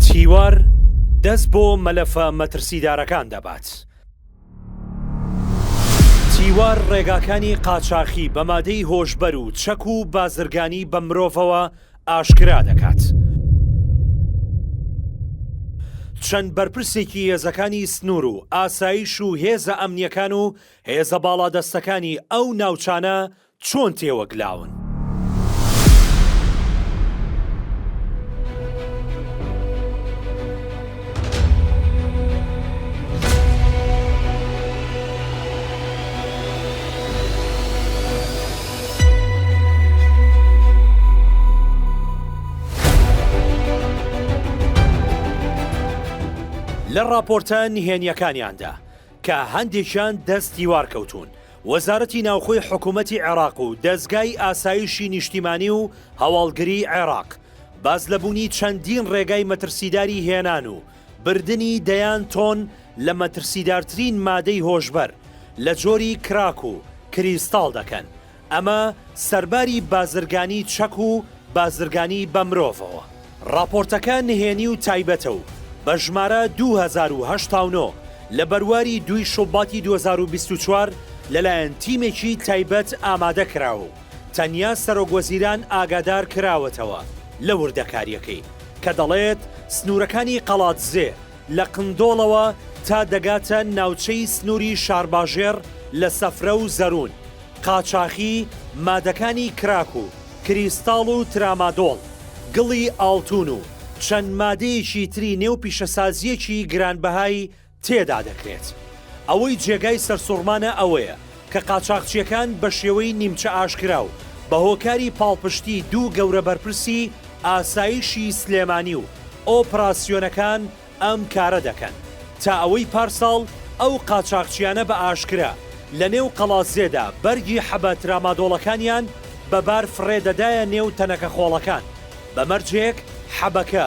چیوار دەست بۆ مەلەفە مەترسیدارەکان دەبات. چیوار ڕێگاکانی قاچاخی بە مادەی هۆشبەر و چەک و بازرگانی بە مرۆڤەوە ئاشکرا دەکات. چەند بەرپرسێکی هێزەکانی سنوور و ئاسایش و هێزە ئەمنیەکان و هێزە باڵادەستەکانی ئەو ناوچانە چۆن تێوەگلاون؟ لە ڕاپۆرتە نهێنییەکانیاندا کە هەندێکیان دەست دیوار کەوتوون، وەزارەتی ناوخۆی حکوومەتی عێراق و دەزگای ئاسایشی نیشتیمانی و هەواڵگریی عێراق باس لە بوونی چەندین ڕێگای مەترسیداری هێنان و بردنی دەیان تۆن لە مەترسیدارترین مادەی هۆشبەر لە جۆری کراک و کریستاڵ دەکەن، ئەمە سەرباری بازرگانی چەک و بازرگانی بە مرۆڤەوە. ڕاپۆرتەکە نهێنی و تایبەتە و بە ژمارە دوو هەزار و هەشتا و نۆ لە بەرواری دووی شوباتی دوو هەزار و بیست و چوار لەلایەن تیمێکی تایبەت ئامادە کراوە و تەنیا سەرۆک وەزیران ئاگادار کراوەتەوە لە وردەکارییەکەی کە دەڵێت سنوورەکانی قەڵادزێ لە قندۆڵەوە تا دەگاتە ناوچەی سنووری شارباژێڕ لە سەفرە و زەروون قاچاخی مادەکانی کراک و کریستاڵ و ترامادۆڵ، گڵی ئاڵتوون و چەند مادەیەکی تری نێو پیشەسازییەکی گرانبەهای تێدا دەکرێت. ئەوەی جێگای سەرسوڕمانە ئەوەیە کە قاچاخچییەکان بە شێوەی نیمچە ئاشکرا و بە هۆکاری پاڵپشتی دوو گەورە بەرپرسی ئاسایشی سلێمانی و ئۆپراسیۆنەکان ئەم کارە دەکەن تا ئەوەی پارساڵ ئەو قاچاغچیانە بە ئاشکرا لە نێو قەڵازێدا بەرگی حەبە ترامادۆڵەکانیان بە بار فڕێ دەدایە نێو تەنەکە خۆڵەکان بە مەرجێک حەبەکە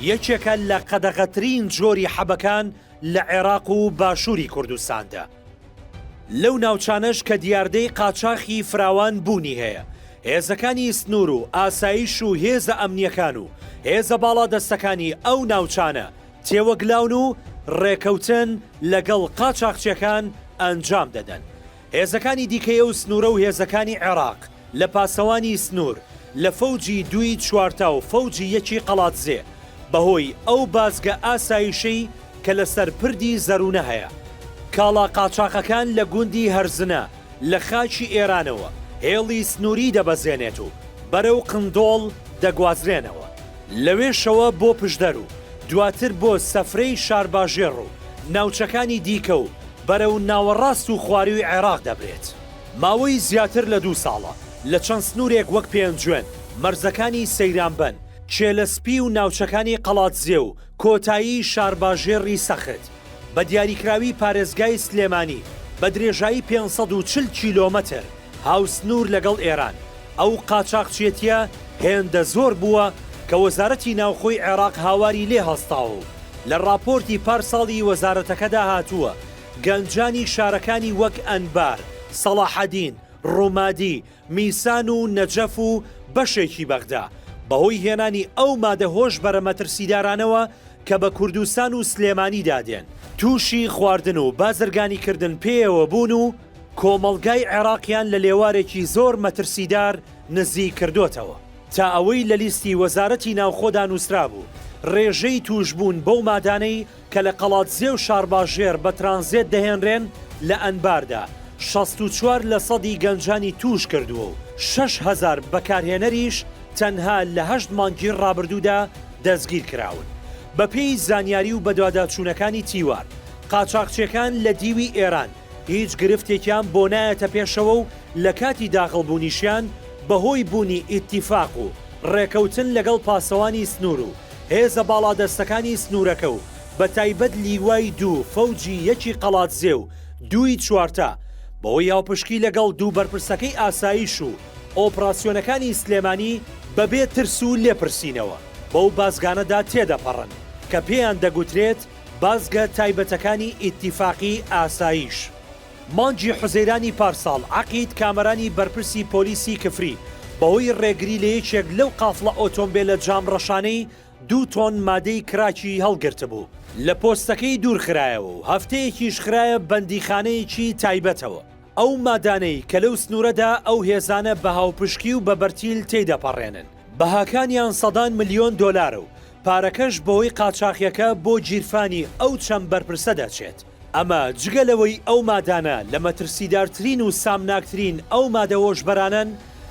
یەکێکە لە قەدەغەترین جۆری حەبەکان لە عێراق و باشووری کوردستاندا. لەو ناوچانەش کە دیاردەی قاچاخی فراوان بوونی هەیە، هێزەکانی سنوور و ئاسایش و هێزە ئەمنییەکان و هێزە باڵادەستەکانی ئەو ناوچانە تێوەگلاون و ڕێکەوتن لەگەڵ قاچاخچیەکان ئەنجام دەدەن. هێزەکانی دیکەی ئەو سنوورە و هێزەکانی عێراق، لە پاسەوانی سنوور، لە فەوجی دووی چوارتا و فەوجی یەکی قەڵادزێ، بە هۆی ئەو بازگە ئاسایشەی کە لە سەر پردی زەروونە هەیە. کاڵا قاچاخەکان لە گوندی هەرزنە لە خاکی ئێرانەوە هێڵی سنووری دەبەزێنێت و بەرەو قندۆڵ دەگوازرێنەوە. لەوێشەوە بۆ پشدەر و دواتر بۆ سەفرەی شارباژێڕ و ناوچەکانی دیکە و بەرەو ناوەڕاست و خوارووی عێراق دەبرێت. ماوەی زیاتر لە دوو ساڵە لە چەند سنوورێک وەک پێنجوێن، مەرزەکانی سەیرانبەن، کێلە سپی و ناوچەکانی قەڵادزێ و کۆتایی شارباژێڕی سەخت، بە دیاریکراوی پارێزگای سلێمانی، بە درێژایی پێنج سەد و چل کیلۆمەتر هاوسنوور لەگەڵ ئێران، ئەو قاچاخچێتییە هێندە زۆر بووە کە وەزارەتی ناوخۆی عێراق هاواری لێ هەستاوە و لە ڕاپۆرتی پارساڵی وەزارەتەکەدا هاتووە، گەنجانی شارەکانی وەک ئەنبار، سەڵاحەدین، ڕومادی، میسان و نەجەف و بەشێکی بەغدا، بەهۆی هێنانی ئەو مادە هۆشبەرە مەترسیدارانەوە کە بە کوردستان و سلێمانیدا دێن، تووشی خواردن و بازرگانیکردن پێیەوە بوون و کۆمەڵگای عێراقیان لە لێوارێکی زۆر مەترسیدار نزیک کردۆتەوە. تا ئەوەی لە لیستی وەزارەتی ناوخۆدا نووسرابوو، ڕێژەی تووشبوون بەو مادانەی کە لە قەڵادزێ و شارباژێڕ بە ترانزێت دەهێنرێن لە ئەنباردا شەست و چوار لە سەدی گەنجانی تووش کردووە و شەش هەزار بەکارهێنەریش تەنها لە هەشت مانگی ڕابردوودا دەستگیر کراون بە پێی زانیاری و بەدواداچوونەکانی تیوار قاچاخچێکان لە دیوی ئێران هیچ گرفتێکیان بۆ نایەتە پێشەوە و لە کاتی داخڵ بوونیشیان بە هۆی بوونی ئیتیفاق و ڕێکەوتن لەگەڵ پاسەوانی سنوور و هێزە باڵادەستەکانی سنوورەکە و بە تایبەت لیوای دوو فەوجی یەکی قەڵادزێ و دووی چوارتا بەهۆی هاوپشکی لەگەڵ دوو بەرپرسەکەی ئاسایش و ئۆپراسیۆنەکانی سلێمانی بەبێ ترس و لێپرسینەوە بەو بازگانەدا تێدەپەڕن کە پێیان دەگوترێت بازگە تایبەتەکانی ئیتیفاقی ئاسایش. مانگی حوزەیرانی پارساڵ، عەقید کامەرانی بەرپرسی پۆلیسی کفری بەهۆی ڕێگری لە یەکێک لەو قافڵە ئۆتۆمبێلە جام ڕەشانەی دوو تۆن مادەی کراکی هەڵگرتبوو، لە پۆستەکەی دوورخرایەوە و هەفتەیەکیش خرایە بەندیخانەیەکی تایبەتەوە. ئەو مادانەی کە لەو سنوورەدا ئەو هێزانە بە هاوپشکی و بە بەرتیل تێیدەپەڕێنن، بەهاکانیان سەدان ملیۆن دۆلارە و پارەکەش بەوەی قاچاخیەکە بۆ گیرفانی ئەو چەند بەرپرسە دەچێت، ئەمە جگە لەوەی ئەو مادانە لە مەترسیدارترین و سامناکترین ئەو مادە هۆشبەرانەن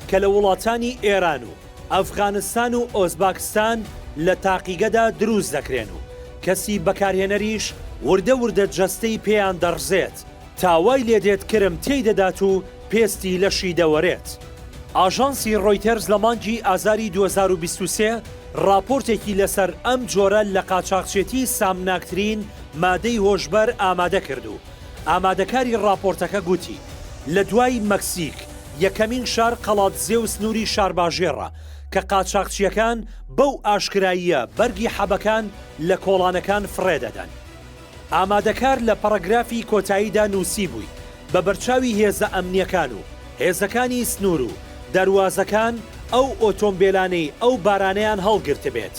کە لە وڵاتانی ئێران و ئەفغانستان و ئۆزباکستان لە تاقیگەدا دروست دەکرێن و کەسی بەکارهێنەریش وردە وردە جەستەی پێیان دەڕزێت. تا وای لێدێت کرم تێیدەدات و پێستی لەشی دەوەرێت. ئاژانسی ڕۆیتەرز لە مانگی ئازاری دوو هەزار و بیست و سێ ڕاپۆرتێکی لەسەر ئەم جۆرە لە قاچاخچێتی سامناکترین مادەی هۆشبەر ئامادە کرد و ئامادەکاری ڕاپۆرتەکە گوتی لە دوای مەکسیک یەکەمین شار قەڵادزێ و سنووری شارباژێڕە کە قاچاخچییەکان بەو ئاشکراییە بەرگی حەبەکان لە کۆڵانەکان فڕێدەدەن. ئامادەکار لە پەڕەگرافی کۆتاییدا نووسیبووی، بە بەرچاوی هێزە ئەمنییەکان و هێزەکانی سنوور و دەروازەکان ئەو ئۆتۆمبێلانەی ئەو بارانەیان هەڵگرتبێت،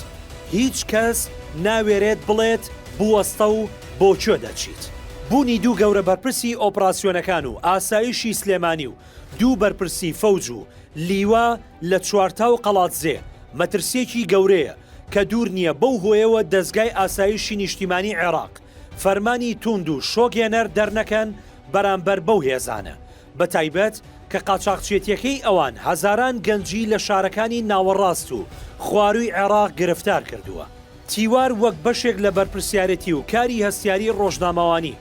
هیچ کەس ناوێرێت بڵێت بوەستە و بۆ کوێ دەچیت. بوونی دوو گەورە بەرپرسی ئۆپراسیۆنەکان و ئاسایشی سلێمانی و دوو بەرپرسی فەوج و لیوا لە چوارتا و قەڵادزێ مەترسییەکی گەورەیە کە دوور نییە بەو هۆیەوە دەزگای ئاسایشی نیشتیمانی عێراق فەرمانی تووند و شۆکهێنەر دەرنەکەن بەرامبەر بەو هێزانە، بەتایبەت کە قاچاخچێتییەکەی ئەوان هەزاران گەنجی لە شارەکانی ناوەڕاست و خوارووی عێراق گرفتار کردووە. تیوار وەک بەشێک لە بەرپرسیارێتی و کاری هەستیاری ڕۆژنامەوانی،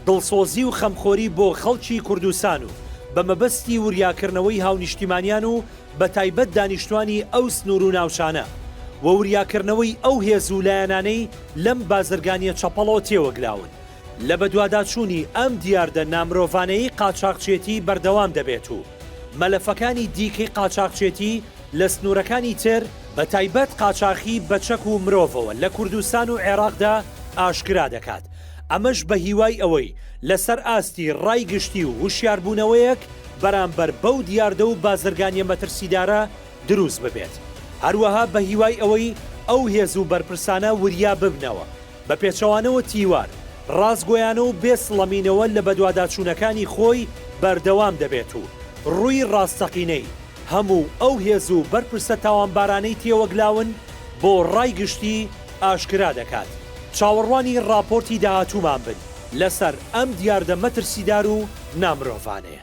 دڵسۆزی و خەمخۆری بۆ خەڵکی کوردستان و بە مەبەستی وریاکردنەوەی هاونیشتیمانیان و بە تایبەت دانیشتوانی ئەو سنوور و ناوچانە، و وریاکردنەوەی ئەو هێز و لایەنانەی لەم بازرگانییە چەپەڵەوە تێوەگلاون، لە بەدواداچوونی ئەم دیاردە نامرۆڤانەیی قاچاغچێتی بەردەوام دەبێت و مەلەفەکانی دیکەی قاچاغچێتی لە سنوورەکانی تر، بە تایبەت قاچاخی بە چەک و مرۆڤەوە لە کوردستان و عێراقدا ئاشکرا دەکات. ئەمەش بە هیوای ئەوەی لەسەر ئاستی ڕای گشتی و هوشیاربوونەوەیەک بەرامبەر بەو دیاردە و بازرگانیە مەترسیدارە دروست ببێت، هەروەها بە هیوای ئەوەی ئەو هێز و بەرپرسانە وریا ببنەوە بە پێچەوانەوە تیوار ڕاستگۆیانە و بێ سڵەمینەوە لە بەدواداچوونەکانی خۆی بەردەوام دەبێت و ڕووی ڕاستەقینەی هەموو ئەو هێز و بەرپرسە تاوانبارانەی تێوەگلاون بۆ ڕای گشتی ئاشکرا دەکات. چاوەڕوانی ڕاپۆرتی داهاتوومان بن لەسەر ئەم دیاردە مەترسیدار و نامرۆڤانەیە.